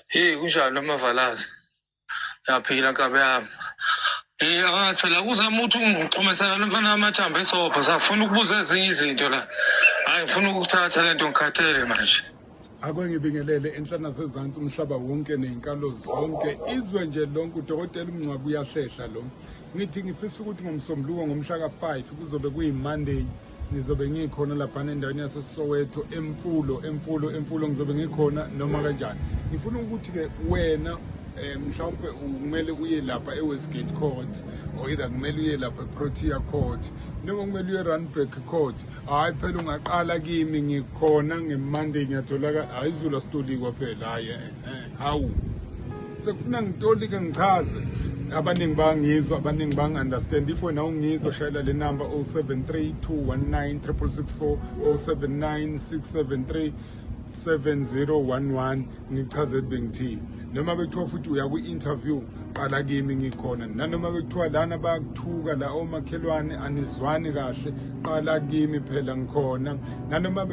Hey kunjani amavalazi? Yaphila nkabe yami. Eh angathi la kuzama ukuthi ungixhumanisana nomfana wamathambo esobho safuna ukubuza ezinye izinto la. Hayi ngifuna ukuthatha lento ngikhathele manje. Ake ngibingelele enhlana sezantsi umhlaba wonke nezinkalo zonke izwe nje lonke udokotela umngcwabi uyahlehla lo. Ngithi ngifisa ukuthi ngomsombuluko ngomhla ka-5 kuzobe kuyiMonday ngizobe ngikhona laphana endaweni yasesoweto emfulo emfulo emfulo ngizobe ngikhona noma kanjani ngifuna ukuthi-ke wena eh mhlawumbe kumele uye lapha eWestgate Court or either kumele uye lapha eProtea Court noma kumele uye Randburg Court hayi phela ungaqala kimi ngikhona ngeMonday ngiyatholakala hayi izulu asitoli kwaphela hayi eh. Eh, hawu sekufuna ngitolike ngichaze abaningi bangizwa abaningi bangi-understand if wena ungizwa shayela le number 073 219 664 079 673 7011 ngichaze bengithini noma bekuthiwa futhi uya kwi-interview qala kimi ngikhona nanoma bekuthiwa lana bayakuthuka la omakhelwane anizwani kahle qala kimi phela ngikhona nanoma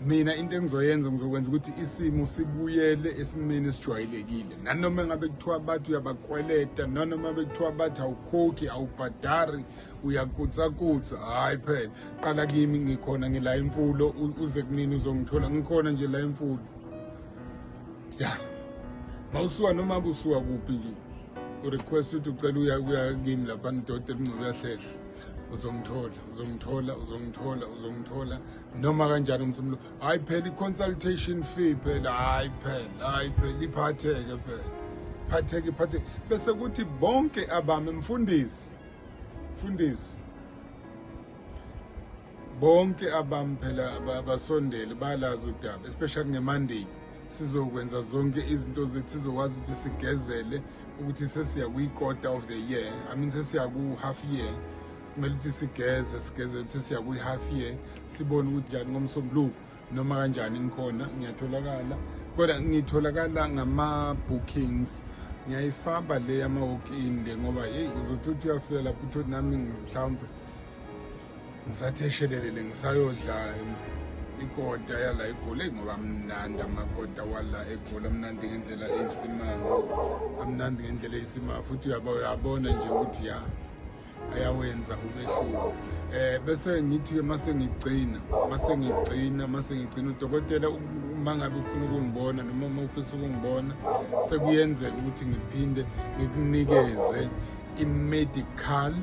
mina into engizoyenza ngizokwenza ukuthi isimo sibuyele esimeni esijwayelekile nanoma engabe kuthiwa bathi uyabakweleta nanoma bekuthiwa bathi awukhokhi awubhadari uyakutsakutsa hhayi phela qala kimi ngikhona ngila imfulo uze kunini uzongithola ngikhona nje la imfulo ya mawusuka noma kusuka kuphi nje urequest ukuthi ucela uya kuya kimi lapha ndoda elingcobe yahlehla uzongithola uzongithola uzongithola uzongithola noma kanjani umsumlo hayi phela i-consultation fee phela hayi phela hayi phela iphatheke phela phatheke iphatheke bese kuthi bonke abami mfundisi mfundisi bonke abami phela basondele balazi udaba especially ngemandiya sizokwenza zonke izinto zethu sizokwazi ukuthi sigezele ukuthi sesiya kwi-quarter of the year i mean sesiya ku-half year kumele ukuthi sigeze sigeze ukuthi siya kwi-half year sibone ukuthi njani ngomsombuluko noma kanjani ngikhona ngiyatholakala kodwa ngitholakala ngama-bookings ngiyayisaba le yama-walk-in le ngoba yeyi uzothi uthi uyafika lapho uthi nami mhlawumbe ngisatheshelelele ngisayodla ikota yala egoli ngoba amnandi amakota wala egoli amnandi ngendlela eyisimanga amnandi ngendlela eyisimanga futhi uyabona nje ukuthi ya ayawenza umehluko eh bese ngithi ke mase ngigcina mase ngigcina mase ngigcina udokotela uma ngabe ufuna ukungibona noma uma ufisa ukungibona sekuyenzeka ukuthi ngiphinde ngikunikeze i-medical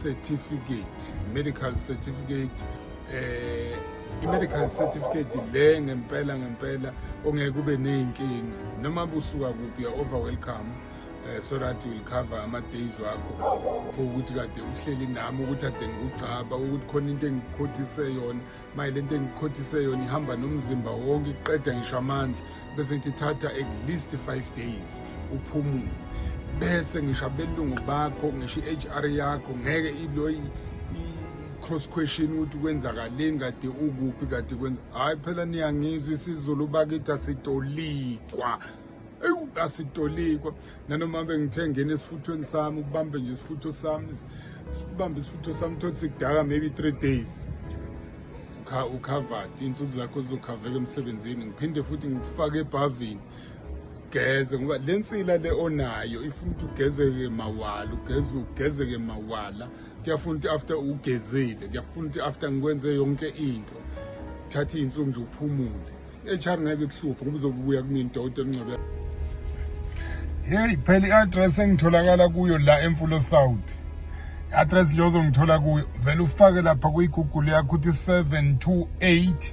certificate medical certificate eh i-medical certificate le ngempela ngempela ongeke ube ney'nkinga noma busuka kuphi ya over welcome eh, so that will cover ama-days wakho for ukuthi kade uhleli nami ukuthi ade ngikugcaba ukuthi khona into engikhothise yona maye le nto engikhothise yona ihamba nomzimba wonke iqeda ngisho amandla bese ngithi thatha at least five days uphumule bese ngisho abelungu bakho ngisho i-h r yakho ngeke iloyi cross question ukuthi kwenzakaleni kade ukuphi kade kwenza hhayi phela niyangizwa isizulu bakithi asitolikwa ewu asitolikwa nanoma bengithe ngena esifuthweni sami ukubambe nje isifutho sami sibambe isifutho sami thothi sikudaka maybe three days ukhavadi iy'nsuku zakho zizokhaveka emsebenzini ngiphinde futhi ngikufake ebhavini ugeze ngoba le nsila le onayo ifuna ukuthi ugezeke mawala ugeze ugezeke mawala kuyafuna ukuthi after ugezile kuyafuna ukuthi after ngikwenze yonke into thatha iy'nsuku nje uphumule HR ngeke kuhluphe ngoba uzobuya kumini dawude ncebe hey phela i-address engitholakala kuyo la emfulo south i-address nje ozongithola kuyo vele ufake lapha kuyigoogle yakho ukuthi 728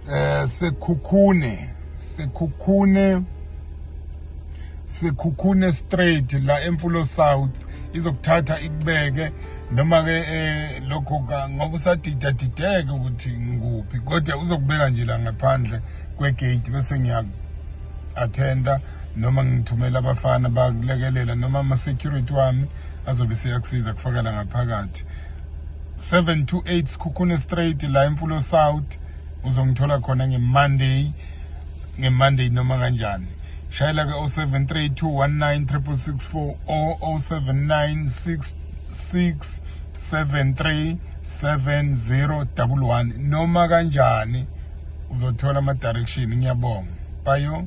um eh, sekhukhune sekhukhune Sekhukhune straight la emfulo south izokuthatha ikubeke noma ke eh, lokho ngoba usadida dideke ukuthi ngikuphi kodwa uzokubeka nje la ngaphandle kwegate bese ngiya attenda noma ngithumela abafana bakulekelela noma ama security wami azobe seyakusiza kufakela ngaphakathi 728 Sikhukhune Straight la eMfulo South uzongithola khona ngemonday ngemonday noma kanjani shayela ke 0732196664 or 0796673701 noma kanjani uzothola ama direction ngiyabonga bayo